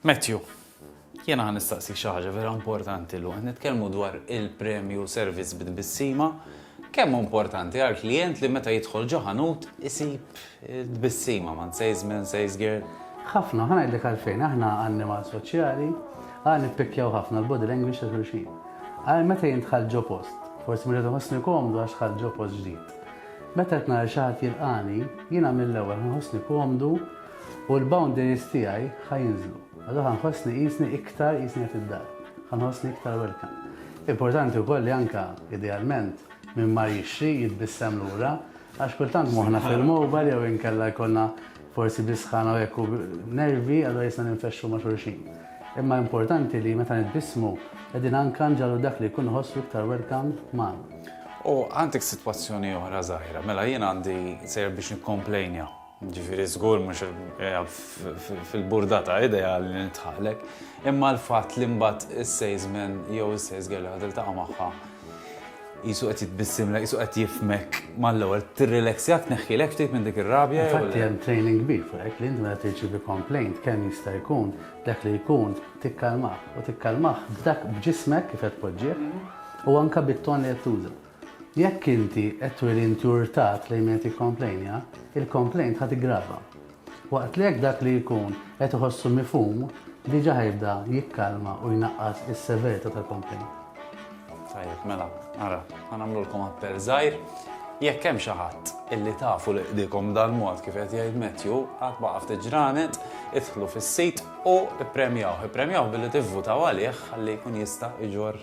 Matthew, jiena ħa nistaqsik xi ħaġa vera importanti llum. Qed nitkellmu dwar il-premju servizz bi tbissima. Kemm hu importanti għal klijent li meta jidħol ġo ħanut isib tbissima man salesman, sales girl? Ħafna, ħa ngħidlek għalfejn, aħna annimal soċjali, għal nippikkjaw ħafna l-body language ta' xulxin. Għal meta jintħal ġo post, forsi minn nħossni komdu għax tħal ġo post ġdid. Meta qed nara xi ħadd jilqani, jiena mill-ewwel nħossni komdu U l-boundaries tiegħi ħa jinżlu. Allura ħa nħossni qisni iktar qisni qed id-dar. Ħa nħossni iktar welcome. Importanti wkoll li anke idealment min mar jixtri jitbissem lura għax kultant moħħna fil-mobile jew inkella jkollna forsi bisħana u hekk u nervi allura jisna ninfexxu ma' xulxin. Imma importanti li meta nitbissmu qegħdin anke nġalu dak li jkun ħossu iktar welcome magħna. U għandek sitwazzjoni oħra żgħira, mela jien għandi sejjer biex nikkomplejnja. Ġifieri żgur mhux fil-burdata idea li nitħalek, imma l-fatt li mbagħad is-salesman jew is-sales girl li tiltaqa' magħha jisu qed jitbissimlek, jisu qed jifmek mal-ewwel tirrileksjak tneħħilek ftit minn dik ir-rabja. Infatti hemm training kbir fuq hekk li int meta tirċievi complaint kemm jista' jkun dak li jkun tikkalmah u tikkalmah b'dak b'ġismek kif qed tpoġġih u anke bit-ton li qed tuża. Jekk inti qed turi inturtà klejn min qed jikkomplejnja, il-complaint ħa tiggrava. Waqt li hekk dak li jkun qed iħossu mifhum diġà ħa jibda jikkalma u jnaqqas is-severita tal-complaint. Tajjeb, mela, ara, ħa nagħmlulkom appell żgħir. Jekk hemm xi ħadd illi tafu li qdikom dal-mod kif qed jgħid Matthew, għad baqa' ftit ġranet, idħlu fis-sit u ippremjawh. Ippremjawh billi tivvutaw għalih ħalli jkun jista' jġorr